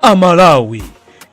amalawi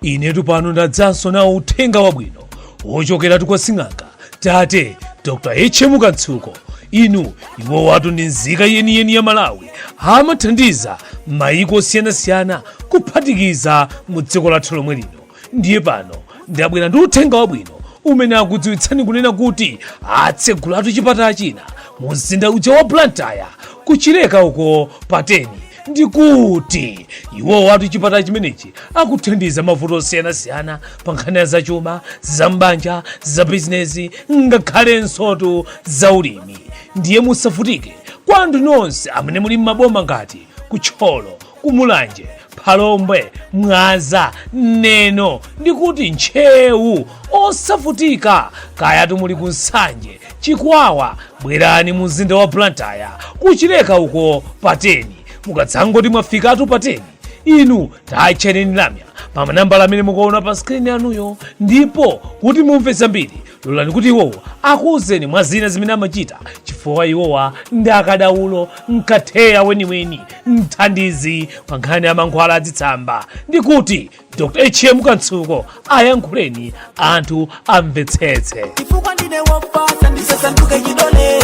inetu pano ndadzanso nawo uthenga wabwino wochokera kwa sing'anga tate dr hm kantsuko inu iwo watu ndi nzika yeniyeni ya malawi amathandiza maiko osiyanasiyana kuphatikiza mu dziko lathu lomwe lino ndiye pano ndabwera ndi uthenga wabwino umene akudziwitsani kunena kuti atsegulatu chipatala china mu mzinda uja wa blantyre kuchileka uko pateni ndi kuti iwo watu chipatala chimenechi akuthandiza mavuto osiyanasiyana pa nkhani ya za chuma za m'banja za bizinesi ngakhalensotu za ulimi ndiye musavutike kwa anthu nonse amene muli m'maboma ngati ku thyolo Ku Mulanje, Phalombe, Mwanza, Neno ndi kuti Ntcheu osavutika kayatu muli ku Nsanje, Chikwawa bwerani mu mzinda wa Blantyre kuchileka uko pateni mukadzangoti mwafikatu pateni inu tatchayani lamya pa manambala amene mukuona pa skrini yanuyo ndipo kuti mumve zambiri lolani kuti iwowa akuwuzeni mwa zina zimene amachita chifukwa iwowa ndi akadaulo mkatheya weniweni mthandizi pa nkhani ya mankhwala adzitsamba ndi kuti dr hm kantsuko ayankhuleni anthu amvetsetse chifukwa ndine wofatsa ndisasanduke chidole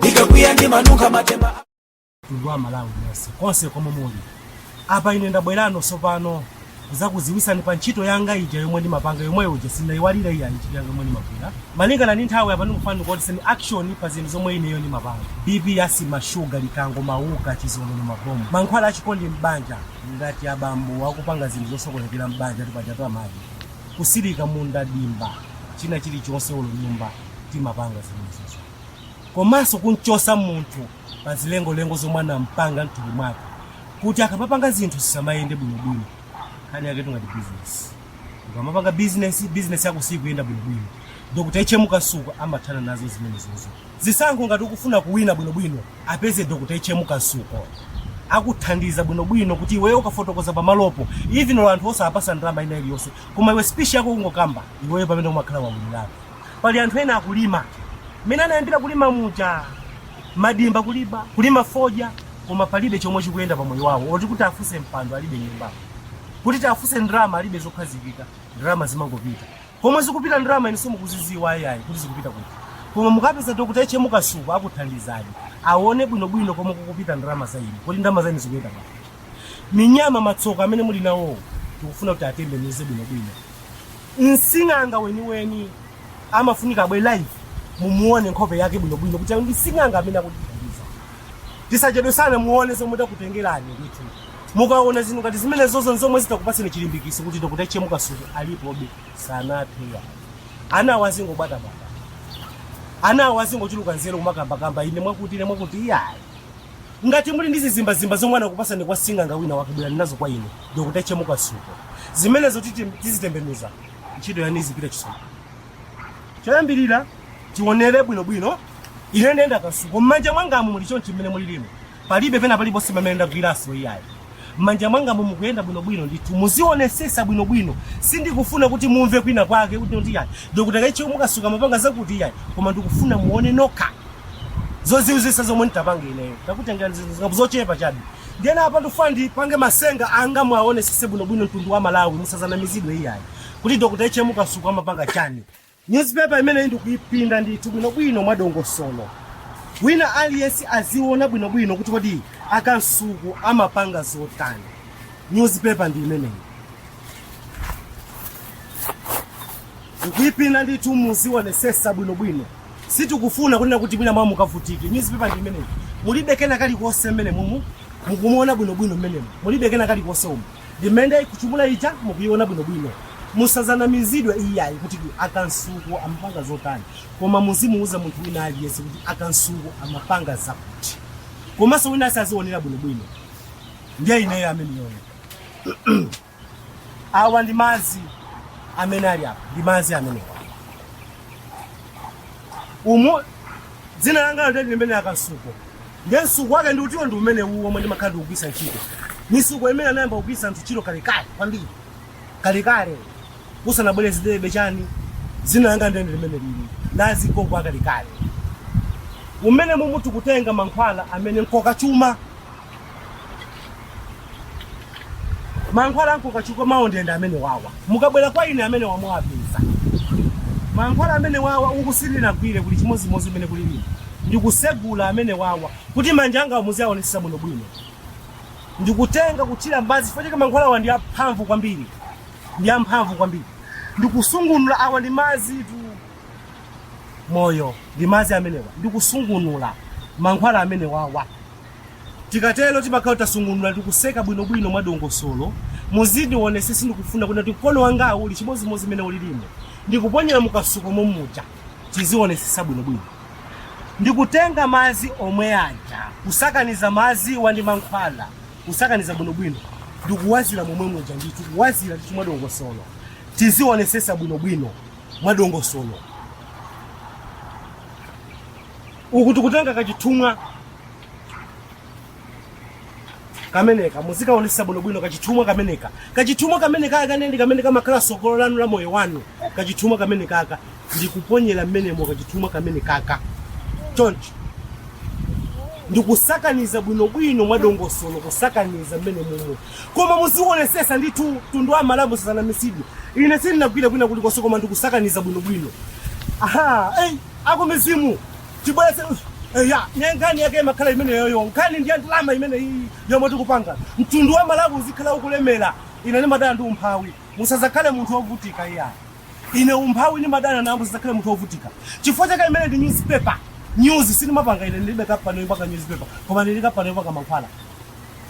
ndikakwiya ndimanunkha matemba mtundu wa Malawi nonse konse komwe muli. Apa ine ndabweranso tsopano kuzakuziwisani pa ntchito yanga ija yomwe ndimapanga yomweyo ija sindinayiwale iya ntchito yanga yomwe ndimagwira. Malingana ndi nthawi apa ndikufuna ndikuoneseni action pa zinthu zomwe ineyo ndimapanga. BP asima shuga likango mauka chizonono mabomu. Mankhwala achikondi m'banja ngati abambo akupanga zinthu zosokonekera m'banja kapena amayi. Kusilika munda dimba china chilichonse ulo nyumba timapanga zimenezo. Komanso kunchosa munthu pa zilengolengo zomwe anampanga mthupi mwake kuti akamapanga zinthu zisamayende bwinobwino nkhani yake ngati business ukamapanga business business yako sikuyenda bwinobwino dr hm kantsuko amathana nazo zimenezozo zisankho ngati ukufuna kuwina bwinobwino apeze dr hm kantsuko akuthandiza bwinobwino kuti iweyo ukafotokoza pamalopo even anthu osapasa ndalama ina iliyonse koma iwe speech yako ungokamba iweyo pamene umakhala wawinirako pali anthu ena akulima mmene anayambira kulima muja madimba kulima fodya koma palibe chomwe chikuyenda pa moyo wawo oti kuti afunse mpando alibe nyumba kuti tiafunse ndalama alibe zokhazikika ndalama zimangopita komwe zikupita ndalama inu simukuziziwa ayayi kuti zikupita kuti koma mukapeza dr hm kantsuko akuthandizani aone bwinobwino komwe kukupita ndalama za inu kuti ndalama za inu zikuyenda pati minyama matsoka amene muli nawowo tikufuna kuti atembenuze bwinobwino Msing'anga weniweni amafunika abwere live mumuone nkhope yake bwinobwino kuti ndi sing'anga amene akutithandiza. Tisachedwe sana muone zomwe takutengerani ndithu. Mukaona zinthu ngati zimenezozo nzomwe zitakupatseni chilimbikitso kuti Dr. H. M. Kamsuko alipobe sanathe ayi. Anawo azingobwatabwata. Anawo azingochuluka nzeru kumakambakamba ine mwakuti ine mwakuti iyayi. Ngati muli ndi zizimbazimba zomwe anakupasani kwa sing'anga wina wake bwerani nazo kwa ine Dr H M Kamsuko. Zimenezo tizitembenuza ntchito yanu izipita chitsogolo. Choyambirira tionere bwinobwino ine nde nda Kamsuko m'manja mwangamu muli chonchi mmene mulilimo palibe pena paliponse pamene ndagwiraso iyayi. M'manja mwangamu mukuyenda bwinobwino ndithu. Muzionesesa bwinobwino. Sindikufuna kuti mumve kwina kwake kunena kuti iyayi Dr H.M Kamsuko amapanga zakuti iyayi koma ndikufuna muone nokha zozizwitsa zomwe nditapange ineyo. Takutengerani zinthu zingapo zochepa chabe. Ndiyeno apa ndikufuna ndipange masenga anga muaonesese bwinobwino mtundu wa Malawi musazanamizidwe iyayi kuti Dr H.M Kamsuko amapanga chani. Newspaper imeneyi ndikuipinda ndithu bwinobwino mwadongosolo. Wina aliyense aziona bwinobwino kuti kodi a Kamsuko amapanga zotani. Newspaper ndi imeneyi. Ndikuipinda ndithu muzionesesa bwinobwino. Sitikufuna kunena kuti mwina mwa mukavutike. Newspaper ndi imeneyi. Mulibe kena kalikonse mmenemumu mukumuona bwinobwino mmenemu. Mulibe kena kalikonse umu. Ndi imene ndikuchumula ija mukuiona bwino bwino. Musazanamizidwe iyayi kuti a Kamsuko amapanga zotani koma muzimuuza munthu wina aliyense kuti a Kamsuko amapanga zakuti komanso wina aliyense azionera bwino bwino. Ndiye ineyo ameneyoyo. Awa ndi madzi amene ali apa, ndi madzi amenewa. Umu dzina langa ndi limene a Kamsuko. Ndiye msuko wake ndiutiwo ndi umenewu womwe ndimakhala ndikugwiritsa ntchito. Mitsuko imene anayamba kugwiritsa anthu ntchito kalekale kwambiri, kalekale kusanabwere zidebe chani, dzina langa ndiye ndi limenelili, ndi azigogo akalekale. Mmenemumu tikutenga mankhwala amene nkoka chuma. mankhwala a nkoka chuma awo ndiye nda amenewawa mukabwera kwa ine amenewa muwapeza mankhwala amenewawa uku sindinagwire kuli chimodzimodzi mmene kulili ndikusegula amenewawa kuti manja anga muziaonetsetsa bwinobwino ndikutenga kuthira m'madzi chifukwa chake mankhwala awa ndi amphamvu kwambiri ndi amphamvu kwambiri ndikusungunula awa ndi madzitu moyo ndi madzi amenewa ndikusungunula mankhwala amenewawa Tikatero timakhala tasungunula ndi kuseka bwinobwino mwadongosolo. Muzindionetsetsa ndikufuna kunena kuti mkono wangawu uli chimodzimodzi mmene ulilimu. Ndikuponyera mu kasuko mommuja. Tizionetsetsa bwinobwino. Ndikutenga madzi omwe aja, kusakaniza madziwa ndi mankhwala, kusakaniza bwinobwino ndi kuwazira momwemuja ndithu, kuwazira ndithu mwadongosolo. Tizionetsetsa bwinobwino mwadongosolo. uku tikutenga kachithumwa kameneka muzikaonesesa bwinobwino kachithumwa kameneka kachithumwa kameneka aka ndi kamene kamakhala sogolo lanu la moyo wanu kachithumwa kameneka aka ndikuponyera mmenemo kachithumwa kameneka aka choncho ndikusakaniza bwinobwino mwadongosolo kusakaniza mmenemumu koma muzionesesa ndithu mtundu wa malawi musanamizidwe ine sindinagwire kwina kulikonse koma ndikusakaniza bwinobwino aha ei akumizimu tibweletse eya ne nkhani yake imakhala imeneyoyo nkhani ndi ya ndalama imene iyi yomwe tikupanga mtundu wa malawi uzikhala ukulemera ine ndimadana ndi umphawi musazakhale munthu wovutika iya ine umphawi ndimadana nawo musazakhale munthu wovutika chifukwa chake imene ndi newspaper news sindimapanga ine ndilibe kampani yopanga newspaper koma ndili kampani yopanga mankhwala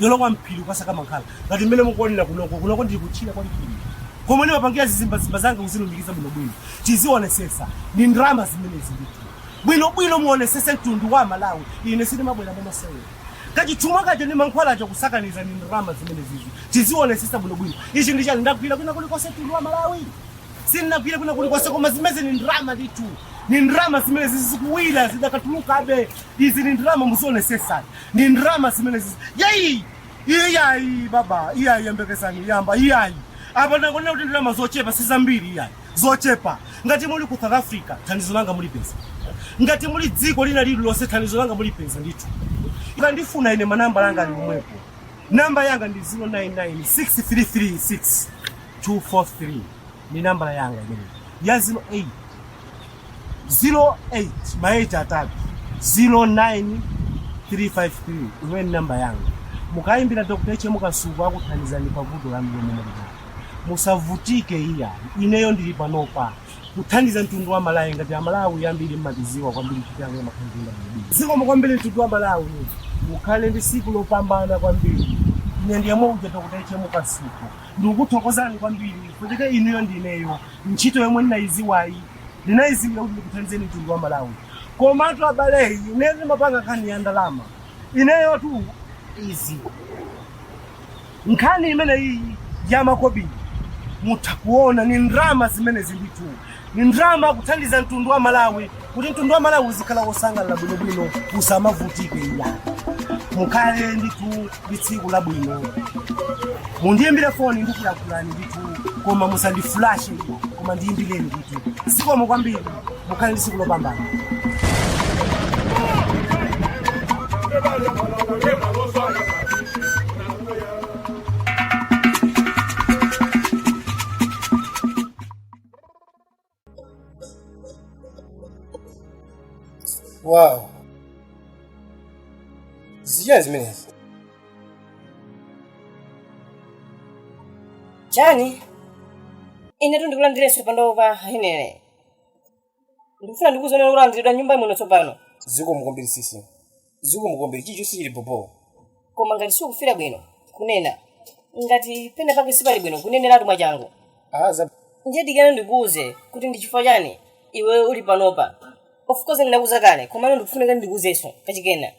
yolowa mphiri kukasaka mankhwala ngati mmene mukuonera kunoko kunoko ndili kutchire kwa mphiri komwe ndimapangira zizimbazimba zanga kuzilumikiza bwinobwino tizionesesa ndi ndalama zimenezi ndithu bwinobwino muonesese mtundu wa malawi ine sindimabwera mwamasewera kachithumwa kaja ndi mankhwala aja kusakaniza ndi ndalama zimenezizi tizionesesa bwinobwino ichi ndi chani ndagwira kwina kulikonse mtundu wa malawi sinnagwire kwina kulikonse koma zimenezi ni ndalama ndithu ni ndalama zimenezi zikuwira zidakatulukabe izi ni ndalama muzionesesa ni ndalama zimenezizi yeyi iyayi baba iyayi yembekezani yamba iyayi apa ndangonena kuti ndalama zochepa si zambiri iyayi zochepa ngati muli ku south africa thandizo langa mulipeza ngati muli dziko lina lililonse thandizo langa mulipeza ndithu mukandifuna ine manamba langa ali omwepo namba yanga ndi 0996336243 ni nambala yanga imeneyi ya 08 08 ma 8 atatu 09353 imene ndi namba yanga mukayimbira dr hm kasuku akuthandizani pa vuto lanu lomwe muli nalo musavutike iya ineyo ndili panopa kuthandiza mtundu wa malawi ngati amalawi ambiri mmatiziwa kwambiri kuti amene makhandiinda bwinobwino zikomo kwambiri mtundu wa malawi mukhale ndi siku lopambana kwambiri ine ndiyemwe uja dr hm kasuku ndikukuthokozani kwambiri kucheza inuyo ndi ineyo ntchito yomwe ndinayiziwayi ndinayiziwira kuti ndikuthandizeni mtundu wa malawi komatu abale ine ndimapanga nkhani ya ndalama ineyotu izi nkhani imeneyi ya makobiri mutha kuona ni ndrama zimenezi ndithu ni ndrama kuthandiza mtundu wa malawi kuti mtundu wa malawi uzikhala wosangalala bwinobwino usamavutike iya mukhale ndithu ndi tsiku labwino mundiyimbire foni ndikuyakhulani ndithu koma musandifulashe koma ndiyimbireni ndithu zikomo kwambiri mukhale ndi tsiku lopambana Wow. Zichani zimenezi? Chani? Inetu ndikulandirenso panopa henere. Ndikufuna ndikuziona kulandiridwa nyumba muno tsopano. Zikomo kwambiri sisi. Zikomo kwambiri. Chilichonse chili bho-bho. Koma ngati sukufila bwino kunena. Ngati pena pake sipali bwino kuneneratu mwachangu. Aaa za. Ndiye dikira ndikuuze kuti ndi chifukwa chani iweyo uli panopa. Of course ndinakuuza kale komano ndikufunika kuti ndikuuzenso kachikena.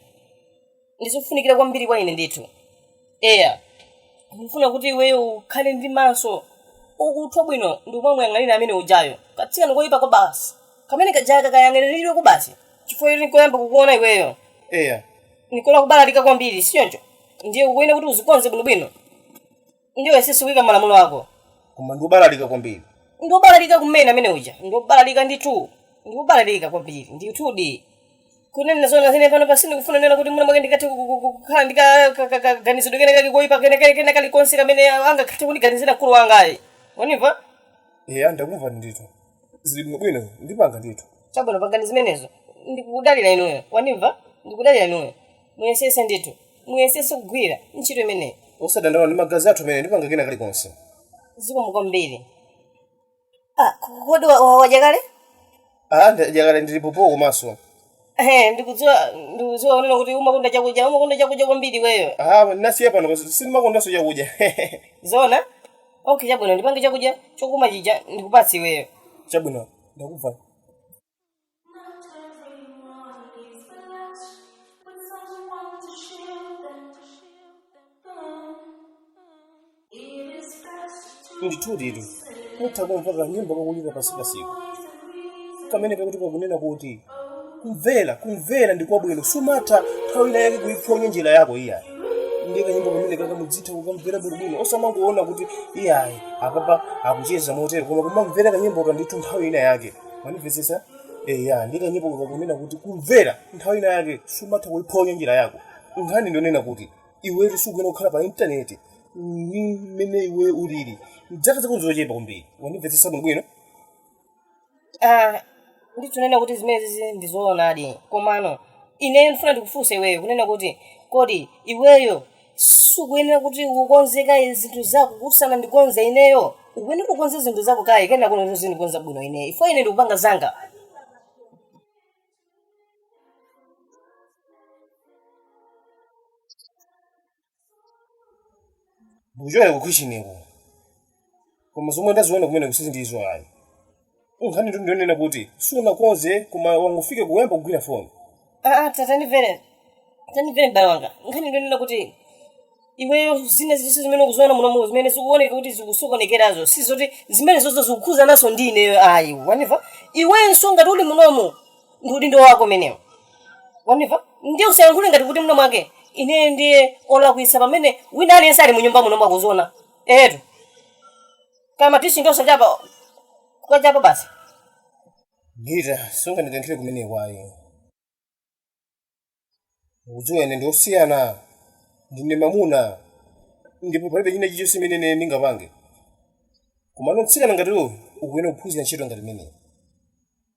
Ndizofunikira kwambiri kwa ine ndithu. eya ndikufuna kuti iweyo ukhale ndi maso okuthwa bwino ndikumamuyang'anira amene ujayo katsikana koyipa kwabasi kamene kajaka kayang'aniridwe ku basi chifukwa yoti nkoyamba kukuona iweyo eya nikola kubalalika kwambiri sichoncho ndiye ukuyenera kuti uzikonze bwinobwino ndiye uyesese kuyika malamulo ako koma ndikubalalika kwambiri ndiobalalika kumene amene uja ndiobalalika ndithu ndiobalalika kwambiri ndithudi kunena zona ine panopa sindikufuna nena kuti mwina mwake ndikathe ku- ku- ku- kukhala ndi ka- ka- ka- kaganizidwe kena kali koyipa kena kali kena kalikonse kamene angakathe kundiganizira mkulu wanga ayi wanimva eya ndakumva ndithu zili bwinobwino ndipanga ndithu chabwino pangani zimenezo ndikudalira inuyo wanimva ndikudalira inuyo muyesese ndithu muyesese kugwira ntchito imeneyi osadandaula ndi magazi athu amene ndipanga kena kalikonse zikomo kwambiri Ah, kodi wa- wa- wadya kale Ah, ndadya kale ndili bho-bho komanso. Ehe, ndikudziwa ndikudziwa unena kuti umakonda chakudya umakonda chakudya kwambiri iweyo Ah, ndinasiya pano kosi sindimakondanso chakudya. zona okay chabwino ndipange chakudya chokoma chija ndikupatse iweyo Chabwino, ndakumva. ndithuditu mutha kumva kanyimbo kakulira pansi pansiko kamene kakuti kakunena kuti kumvera kumvera ndi kwabwino sumatha nthawi ina yake kuiphonya njira yako iyayi ndi kanyimbo kamene kaka mudzitha kukamvera bwinobwino osamangoona kuti iyayi apapa akucheza motero koma kumamvera kanyimboka ndithu nthawi ina yake wandimvetsetsa eya ndi kanyimbo kakunena kuti kumvera nthawi ina yake sumatha kuiphonya njira yako nkhani ndionena kuti iwetu sukuyena kukhala pa intaneti ndi mmene iwe ulili dzaka zako nzochepa kwambiri wandimvesesa bwinobwino Ah, ndikunena kuti zimenezi ndizoonadi komano ineyo ndifuna ndikufunse iweyo kunena kuti kodi iweyo sukuyenera kuti ukonze kaye zinthu zako kuti usanandikonze ineyo ukuyenera ukonze zinthu zako kaye kenako uzindikonza bwino ineyo ifo ine ndikupanga zanga uchokera ku kitcheniko koma zomwe ndaziona kumeneko sindizo ayi nkhani tu ndionena kuti sunakonze koma wangofika kuyamba kugwira foni aa tatandimvere tandimvere mbale wanga nkhani ndionena kuti iweyo zina ziliso zimene ukuziona munomu zimene zikuoneka kuti zikusokonekerazo si zoti zimene zozo zikukhuzananso ndi ineyo ayi wanimva iwenso ngati uli munomu ndi udindo wako umenewo wanimva ndiye usayankhule ngati kuti muno mwake ineyo ndiye olakwisa pamene wina aliyense ali munyumba munomu akuziona Eetu, koma tisinke osachapa kukachapa basi. Gita, sungandikankhire kumeneko ayi. Ukudziwa ine ndi osiyana, ndine mamuna ndipo palibe china chilichonse chimene ine ndingapange. Komano mtsikana ngati iwe ukuyenera kuphunzira ntchito ngati imeneyi.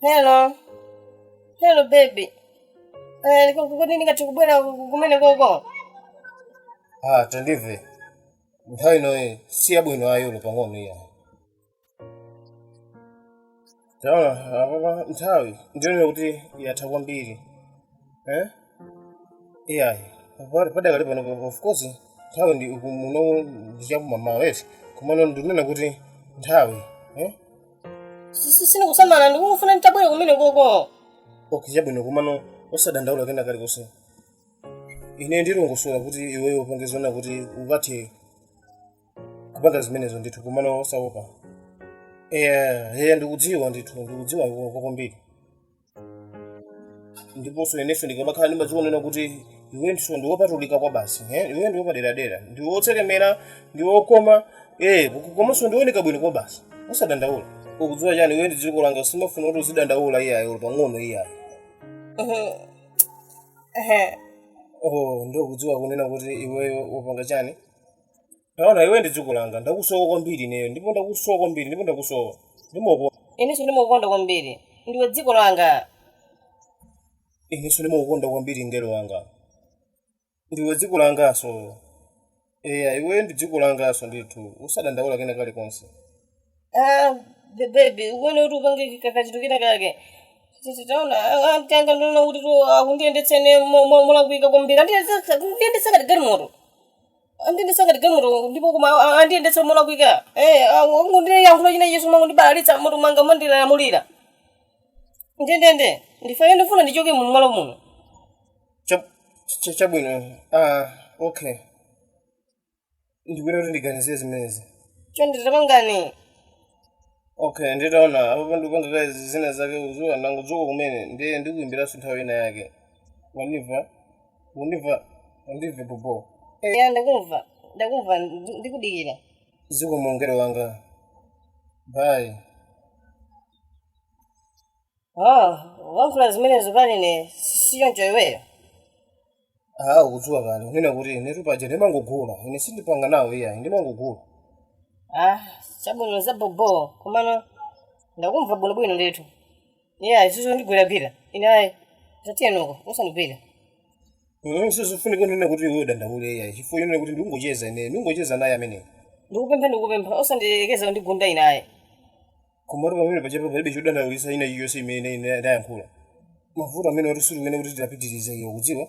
Hello. Hello baby. Eh, kodi ndingathe kubwera kumenekoko. Ah, tandimve. Nthawi inoyi si yabwino ayi olo pang'ono iya. Taona, apapa nthawi ndiyonena kuti yatha kwambiri. iyayi pali padakali pano pa- of course nthawi ndi uku muno ndi chakum'mawa eti komano ndikunena kuti nthawi eh sindikusamala ndikungofuna nditabwera kumenekoko okay chabwino komano osadandaula kena kalikonse ine ndilongosola kuti iweyo upange zonena kuti ukathe kupanga zimenezo ndithu komano osaopa eya eya ndikudziwa ndithu ndikudziwa iwe kwambiri ndiponso inenso ndikamakhala ndimadziwa kunena kuti iwenso ndi wopatulika kwabasi eh? iwe ndi wopaderadera ndi wotsekemera ndi wokoma eh, komanso ndi wooneka bwino kwabasi usadandaula ukudziwa chani iwe ndi dziko langa simafuna kuti uzidandaula iyayi olo pang'ono iyayi oh, ndikudziwa kunena kuti iweyo wapanga chani Taona iwe ndi dziko langa, ndakusowa kwambiri ineyo, ndipo ndakusowa kwambiri, ndipo ndakusowa. Ndimakukonda. Inenso ndimakukonda kwambiri. Ndiwe dziko langa. Inenso ndimakukonda kwambiri mngelo wanga. Ndiwe dziko langanso. Eya, iwe ndi dziko langanso ndithu. Usadandaula kena kalikonse. Ah, be- baby, ukuona kuti upange ka- kachinthu kena kake. Titi, Taona, ah, ah, tanga, ndikuona kuti akundiyendetsa ine mo- mo- molakwika kwambiri. Andiyendetsa andiyendetsa ngati galimoto. andiyendetsa ngati galimoto ndipo koma a- a- andiyendetsa molakwika Eh, a- ungondiyankhula china Yesu mumangondibalalitsa mutu wanga mumandilamulira ndendende ndifane ndifuna ndichoke mu malo muno Cha- cha- chabwino ah, okay ndikuyenera kuti ndiganizire zimenezi chonde tapangani okay ndi- taona apo ndikupanga kaye zina zake ukudziwa ndangodzuka kumene ndiye ndikuimbiranso nthawi ina yake wandimva Undimva, undimve bobo. ya ndakumva ndakumva ndi- ndikudikira Zikomo mngelo wanga. Bye. oh wankhula zimenezo pa ine sichoncho iweyo Ah, ukudziwa kale. Kunena kuti inetu paja ndimangogula. Ine sindipanga nawo iyayi, ndimangogula. ah chabwino za bobo komano ndakumva bwinobwino ndithu iye usandigwiregwire ine ayi tatiyenoko usandigwire sizofunika kunena kuti iwe udandaule iyayi chifukwa yonena kuti ndikungocheza ine ndikungocheza naye ameneyo ndikupempha ndikupempha usandiyerekeze kundigunda ine ayi komatu pamenepaja apa palibe chodandaulitsa china chilichonse imene ine ndayankhula mavuto amene wati suli umene kuti tidapitirize iwe ukudziwa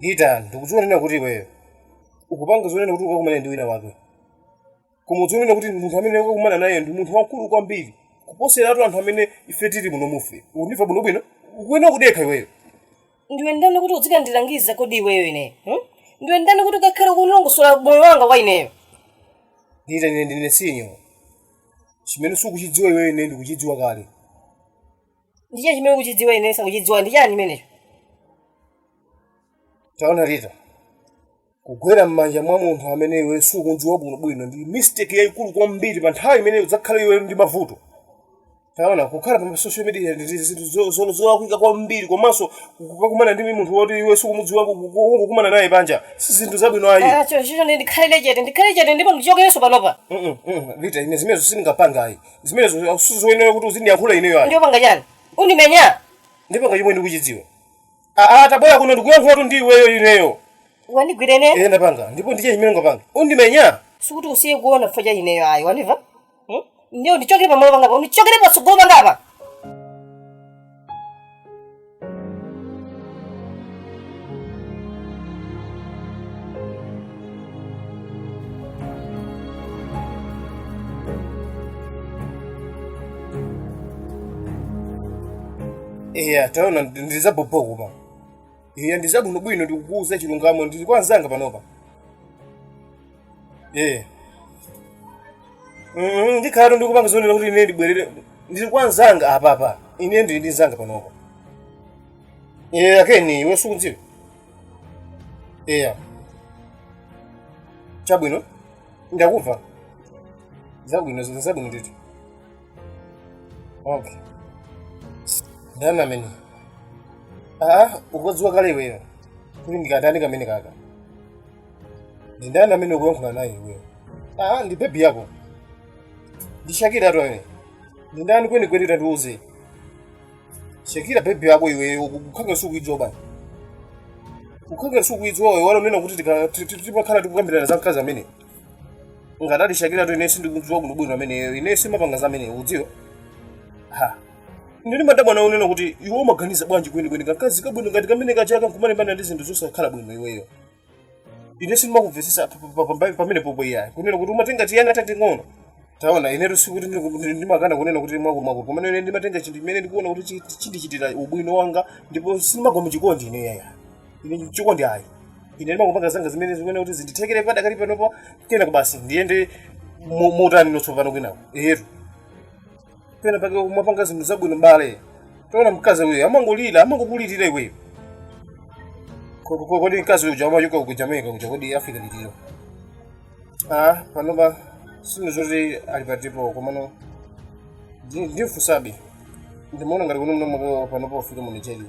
Lita ndikudziwa kunena kuti iweyo ukupanga zonena kuti ukakumana ndi wina wake koma udziwe kunena kuti munthu amene ukakumana naye ndi munthu wamkulu kwambiri kuposeratu anthu amene ife tili muno muofesi ukundimva bwinobwino ukuyenera kudekha iweyo ndiwe ndani kuti uzikandilangiza kodi iweyo ineyo hmm? ndiwe ndani kuti ukakhale kundilongosola moyo wanga kwa ineyo Lita ine ndine senior chimene sukuchidziwa iweyo ine ndikuchidziwa kale ndichani chimene ukuchidziwa ineyo sindikuchidziwa ndichani chimenecho taona Lita Kugwera m'manja mwa munthu amene iwe sukum'dziwa bwinobwino ndi mistake yaikulu kwambiri pa nthawi imene udzakhala iwe ndi mavuto. Taona, kukhala pa social media ndi ndi zinthu zo- zo- zolakwika kwambiri komanso kukakumana ndi munthu woti iwe sukumudziwa ku- ku- kungokumana naye panja si zinthu zabwino ayi. Ah, cho- cho- ndi- undikhalire chete undikhalire chete ndipo undichokerenso panopa Mm-mm, mm, Lita, ine zimenezo sindingapange ayi. Zimenezo sizoyenera kuti uzindiyankhula ineyo ayi. undipanga chani undimenya Ndipanga chomwe ndikuchidziwa. Aa, tabwera kuno ndikuyankhulatu ndi iweyo ineyo. Wandigwira ineyo? Iye ndapanga. Ndipo ndiye chimene ndapanga. Undimenya? Sikuti usiye kuona vuto ineyo ayi, wandiva? Hmm? Ndiye undichokere pamalo panga apa, undichokere patsogolo panga apa. eya taona ndizabhobho koma eya ndizabwinobwino ndikukuuza chilungamo ndili kwa anzanga panopa eya Mm, ndikhalatu ndikupanga zoona kuti ine ndibwerere ndili kwa anzanga apapa ine ndili ndi nzanga panopa a keni iwe sukuwadziwa eya chabwino ndakumva zabwino zabwino ndithu Okay. Ndani ameneyo? Ah, ukudziwa kale iweyo. Kuti ndi kandani kamene kaka. Ndi ndani amene ukuyankhula naye iweyo? Ah, ndi baby yako. Ndi Shakira tu ine. Ndi ndani kweni kweni tandiuze. Shakira baby yako iweyo ukukhala ngati sukuidziwa bwanji. Ukukhala ngati sukuidziwa iwe wala kunena kuti tikakhala tikukambirana za mkazi amene. ngati ali shakira tu ine sindikumudziwa bwinobwino ameneyo ine sindimapanga za ameneyo udziwa ha ndiye ndimadabwa nawe kunena kuti iwe umaganiza bwanji kwenikweni kakazi kabwino ngati kamene kaja ka nkumalimbana ndi zinthu zosakhala bwino iweyo ine sindimakumvetsetsa pa- pa- pa- pa- pamene popo iyayi kunena kuti umatenga tiana tating'ono taona inetu sikuti ndi- ndi- ndimakana kunena kuti mwina kakakulu komano ine ndimatenga chinthu chimene ndikuona kuti chi- chindichitira ubwino wanga ndipo sindimagwa muchikondi ine yaya ine chikondi ayi ine ndimangopanga zanga zimene ndikuona kuti zindithekere padakali panopo kenako basi ndiyende mo- motani tsopano kwinako eyetu pena pake uzipanga zinthu zabwino mbale taona mkazi uyo amangolira amangokulirira iweyo Ko- ko- kodi mkazi uja amachoka ku jamaica kuja kodi africa litiro ah panopa sindidziwa kuti ali patipo komano ndi- ndimfunsabe ndimaona ngati konkuno panopa wafika mu nigeria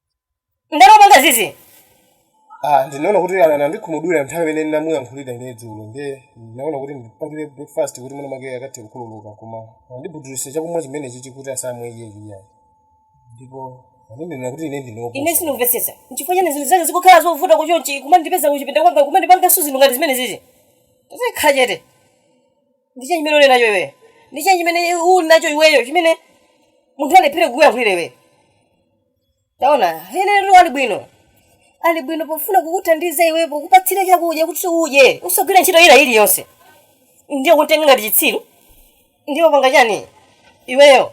ndani wapanga zizi Ah, ndinaona kuti ana- anandikhumudwira nthawi imene ndinamuyankhulira ine dzulo nde ndinaona kuti ndipangire breakfast kuti mwina mwake akathe kukhululuka koma andibudulira chakumwa chimenechi chi kuti asamwe iyeyo ayi ndipo andinena kuti ine ndi njoka ine sindimvetsetsa nchifukwa chani zinthu zake zikukhala zovuta chonchi kumandipeza kuchipinda kwanga kumandipangaso zinthu ngati zimene zizi tazikhala chete ndi chani chimene uli nacho iweyo ndi chani chimene uli nacho iweyo chimene munthu alephere kukuyankhulira iweyo taona Nene ali bwino, ali bwino pofuna kukuthandiza iwe pokupatsira chakudya kuti udye usagwira ntchito ina iliyonse ndiye kumtenga ngati chitsiru ndiye wapanga chani iweyo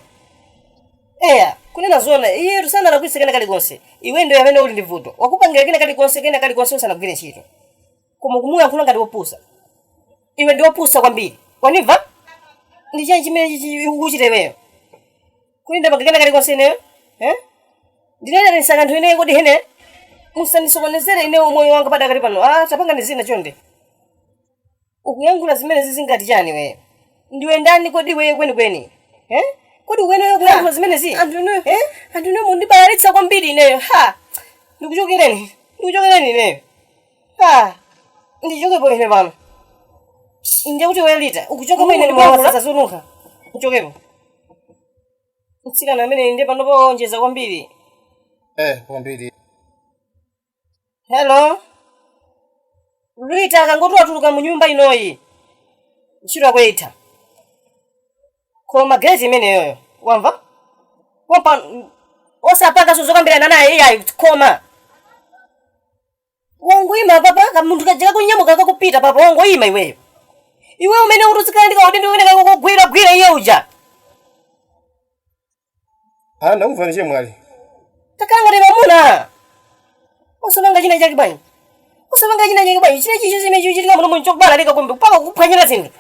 eya kunena zona iyetu sanalakwitse kena kalikonse iwe ndiye amene uli ndi vuto wakupangira kena kalikonse, kena kalikonse usanagwire ntchito koma kumuyankhula ngati wopusa iwe ndi wopusa kwambiri wanimva ndi chani chimene ukuchita iweyo kodi ndapanga kena kalikonse ineyo Eh? ndinanenetsa kanthu ineyo kodi hene musandisokonezere ineyo moyo wanga padakali pano ah, tapangani zina chonde ukuyankhula zimenezi zingati chani iweyo ndiwe ndani kodi iweyo kwenikweni Eh? kodi uweneyo kuyankhula zimenezi anthu inuyo Eh? anthu inuyo mukundibalalitsa kwambiri ineyo ha ndikuchokereni ndikuchokereni ineyo ha ndichokepo ine pano ndiye kuti iwe Rita ukuchoka mwene ndikuyankhula zazonunkha uchokepo mtsikana ameneyi ndiye panopo wonjeza kwambiri eh kwambiri hello Rita akangoti watuluka mu nyumba inoyi ntchito yako itha khoma geti imeneyoyo wamva Wamva osapanganso zokambirana naye iyayi khoma Wangoyima apapa kamunthu kaja kakunyamuka kakupita papa wangoyima iweyo. Iwe umayenera kuti uzikhala ndi kaudindo komakamugwiragwira iye uja. Ah, ndakumvani chemwali. Takhala ngati mamuna. Usapanga china chake bwanji? Usapanga china chake bwanji? China chilichonse chimene chikuchitika muno m'nchobalalika kumbi mpaka kukuphwanyira zinthu.